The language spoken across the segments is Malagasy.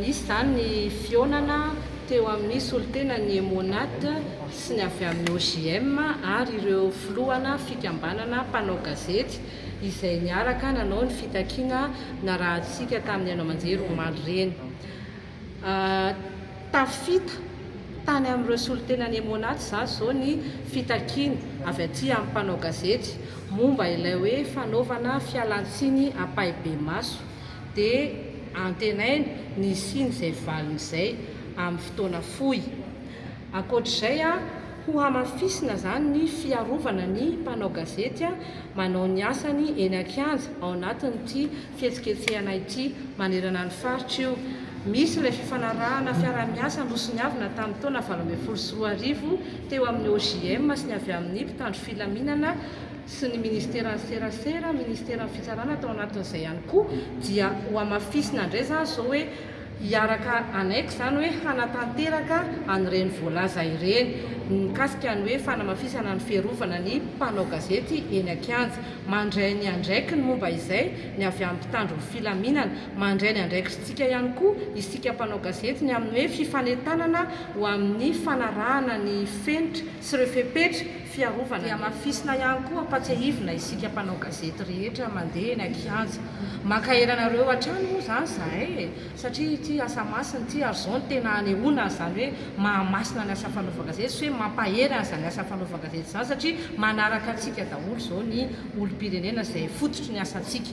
Nisy izany ny fihaonana teo amin'ny solontenan'ny Emmonat sy ny avy amin'ny OJM ary ireo filohana fikambanana mpanao gazety izay niaraka nanao ny fitakiana narahantsika tamin'ny haino aman-jery omaly ireny. Tafita tany amin'ireo solontenan'ny Emmonat izany izao ny fitakiana avy aty amin'ny mpanao gazety momba ilay hoe fanaovana fialantsiny ampahibemaso. dia antenaina ny hisian'izay valiny izay amin'ny fotoana fohy. Ankoatra izay, hohamafisina izany ny fiarovana ny mpanao gazety manao ny asany eny an-kianja ao anatin'ity fihetsiketsehana ity manerana ny faritra io. Misy ilay fifanarahana fiaraha-miasa nosoniavina tamin'ny taona valo ambin'ny folo sy roa arivo teo amin'ny OJM sy ny avy amin'ny mpitandro filaminana sy ny Ministeran'ny Serasera, Ministeran'ny Fitsarana tao anatin'izay ihany koa dia hohamafisina indray izany izao hoe hiaraka hanaiky izany hoe hanatanteraka an'ireny voalaza ireny mikasika ny hoe fanamafisana ny fiarovana ny mpanao gazety eny an-kianja. Mandray ny andraikiny momba izay ny avy amin'ny mpitandro ny filaminana. Mandray ny andraikitsintsika ihany koa isika mpanao gazety ny amin'ny hoe fifanentanana ho amin'ny fanarahana ny fenitra sy ireo fepetra fiarovana ny Hamafisina ihany koa Ampatsiahivina isika mpanao gazety rehetra mandeha eny an-kianja Mankahery anareo hatrany moa izany izahay e satria ity asa masina ity ary izao no tena hanehoana an'izany hoe mahamasina ny asa fanaovan-gazety sy hoe mampahery an'izany asa fanaovan-gazety izany satria manaraka antsika daholo izao ny olom-pirenena izay fototry ny asantsika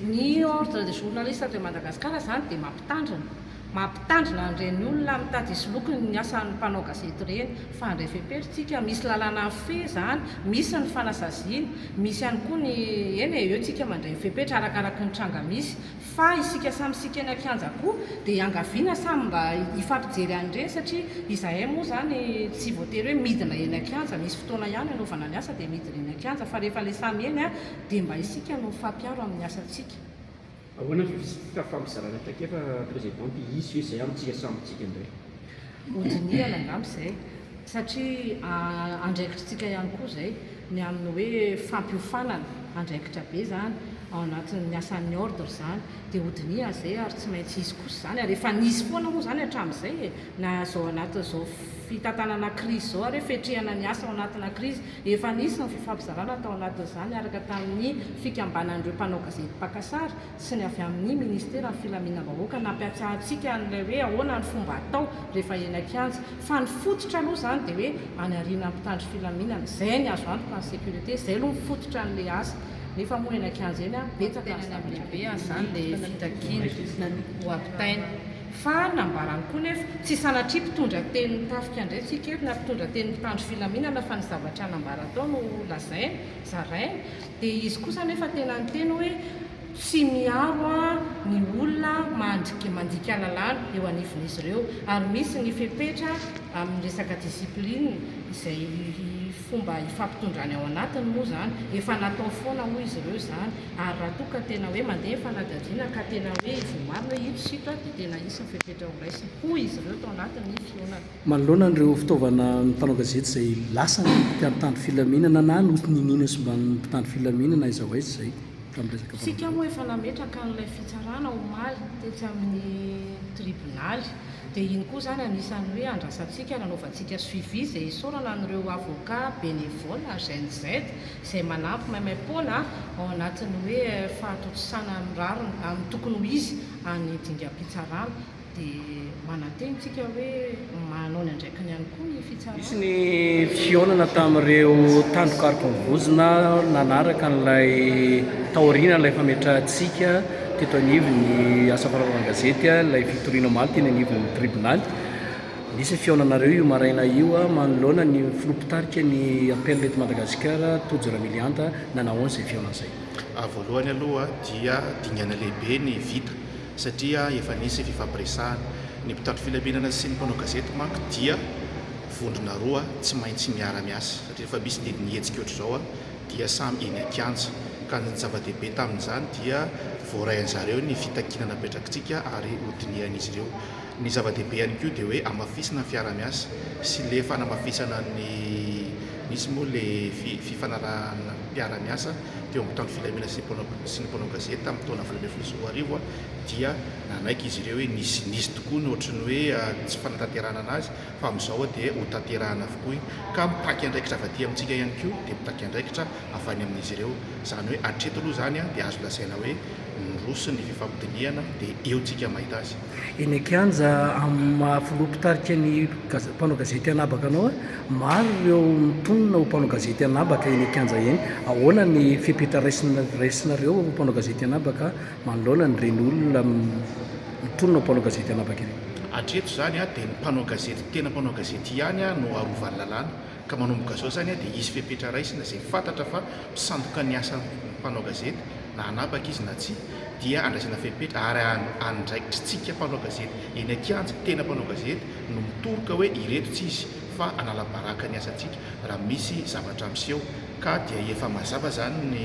Ny Ordre des journalistes de Madagascar izany dia mampitandrina. Mampitandrina an'ireny olona mitady hisoloky ny asan'ny mpanao gazety ireny fa handray fepetra isika. Misy lalàna mifehy izany, misy ny fanasaziana, misy ihany koa ny, eny e, eo isika mandray ny fepetra arakaraky ny tranga misy Fa isika samy isika eny an-kianja koa dia iangaviana samy mba hifampijery an'ireny satria izahay moa izany tsy voatery hoe midina eny an-kianja, misy fotoana ihany hanaovana ny asa dia midina eny an-kianja fa rehefa ilay samy eny dia mba isika no mifampiaro amin'ny asantsika. Ahoana ny fifisitika fampizarana traikefa President Pihiso izay amintsika samy amintsika indray? Hodinihana angamba izay satria andraikitr'tsika ihany koa izay ny amin'ny hoe fampiofanana, andraikitra be izany ao anatin'ny asan'ny ordre izany dia hodinihana izay ary tsy maintsy hisy kosa izany ary efa nisy foana moa izany hatramin'izay e! na izao anatin'izao fitantanana crise izao ary hoe fetrihana ny asa ao anatina crise, efa nisy ny fifampizarana tao anatin'izany araka tamin'ny fikambanan'ireo mpanao gazety mpaka sary, sy ny avy amin'ny Ministeran'ny Filaminam-bahoaka nampiatsara antsika an'ilay hoe ahoana ny fomba atao rehefa eny an-kianja. Fa ny fototra aloha izany dia hoe any aoriana ny mpitandro filaminana. Izay ny azo antoka ny sécurité, izay aloha ny fototra an'ilay asa. Nefa moa eny an-kianja eny betsaka ny zavatra mety hitranga. Ny tenany amin'izany dia fitakiana ho ampitaina. Fa nambarany koa nefa, tsy sanatria mpitondra tenin'ny tafika indray tsika eto na mpitondra tenin'ny mpitandro filaminana fa ny zavatra nambarany tao no lazainy, zarainy. Dia izy kosa anefa tena niteny hoe, Tsy miaro aho ny olona mandrik mandika lalàna eo anivon'izy ireo, ary misy ny fepetra amin'ny resaka discipline, izay fomba ifampitondrany ao anatiny moa izany, efa natao foana hoy izy ireo izany, ary raha toa ka tena hoe mandeha ny fanadihadiana ka tena hoe voamarina hoe ito sy ito dia tena hisy ny fepetra horaisina, hoy izy ireo tao anatin'ny fihaonana. Manoloana an'ireo fitaovana ny mpanao gazety izay lasan'ny mpiantandro filaminana na notoniniana simban'ny mpitandro filaminana aiza ho aiza izay tamin'ny resaka vaovao. Isika moa efa nametraka an'ilay fitsarana omaly tetsy amin'ny tribonaly dia iny koa izany anisan'ny hoe andrasantsika nanaovantsika suivi izay isaorana an'ireo avocats bénévoles GNZ izay manampy maimaim-poana ao anatin'ny hoe fahatontosana amin'ny rariny amin'ny tokony ho izy any dingam-pitsarana dia manantena isika hoe manao ny andraikiny ihany koa ny fitsarana. Nisy ny fihaonana tamin'ireo tandroka arivonivozona nanaraka an'ilay taorian'ilay fametrahantsika teto anivon'ny asa fanaovana gazety ilay fitoriana omaly teny anivon'ny tribonaly. Nisy ny fihaonanareo io maraina io manoloana ny filoha mpitarika ny APL eto Madagasikara Tojo Ramilianta, nanao ahoana izay fihaonana izay? Voalohany aloha dia dingana lehibe ny vita satria efa nisy fifampiresahana. Ny mpitandro filaminana sy ny mpanao gazety manko dia vondrona roa tsy maintsy miara-miasa, satria rehefa misy didy nihetsika ohatr'izao dia samy eny an-kianja, ka ny zava-dehibe tamin'izany dia voarain'ny zareo ny fitakiana napetrakitsika ary hodinihan'izy ireo. Ny zava-dehibe ihany koa dia hoe hamafisina ny fiara-miasa sy le fanamafisana ny, misy moa le fifanarahana mpiara-miasa, teo amin'ny mpitandro filaminana sy ny mpanao gazety tamin'ny taona valo ambin'ny folo sy roa arivo dia nanaiky izy ireo hoe nisy nisy tokoa ny ohatry ny hoe tsy fanatanterahana anazy fa amin'izao dia ho tanterahana avokoa ka mitaky andraikitra avy aty amintsika ihany koa dia mitaky andraikitra avy any amin'izy ireo izany hoe hatreto aloha izany dia azo lazaina hoe niroso ny fifampidinihana dia eo tsika mahita azy. Eny an-kianja amin'ny maha filoha mpitarika ny mpanao gazety anabaka anao, maro ireo mitonona ho mpanao gazety anabaka eny an-kianja eny. Ahoana ny fepetra raisinareo ho mpanao gazety anabaka manoloana an'ireny olona mitonona ho mpanao gazety anabaka ireny? Hatreto izany dia ny mpanao gazety tena mpanao gazety ihany no arovan'ny lalàna. Ka manomboka zao zany dia hisy fepetra raisina izay fantatra fa mpisandoka ny asan'ny mpanao gazety na hanapaka izy na tsia dia andraisana fepetra ary andraikitry tsika mpanao gazety eny an-kianja tena mpanao gazety no mitoroka hoe ireto tsy izy fa anala baraka ny asantsika raha misy zavatra miseho ka dia efa mazava zany ny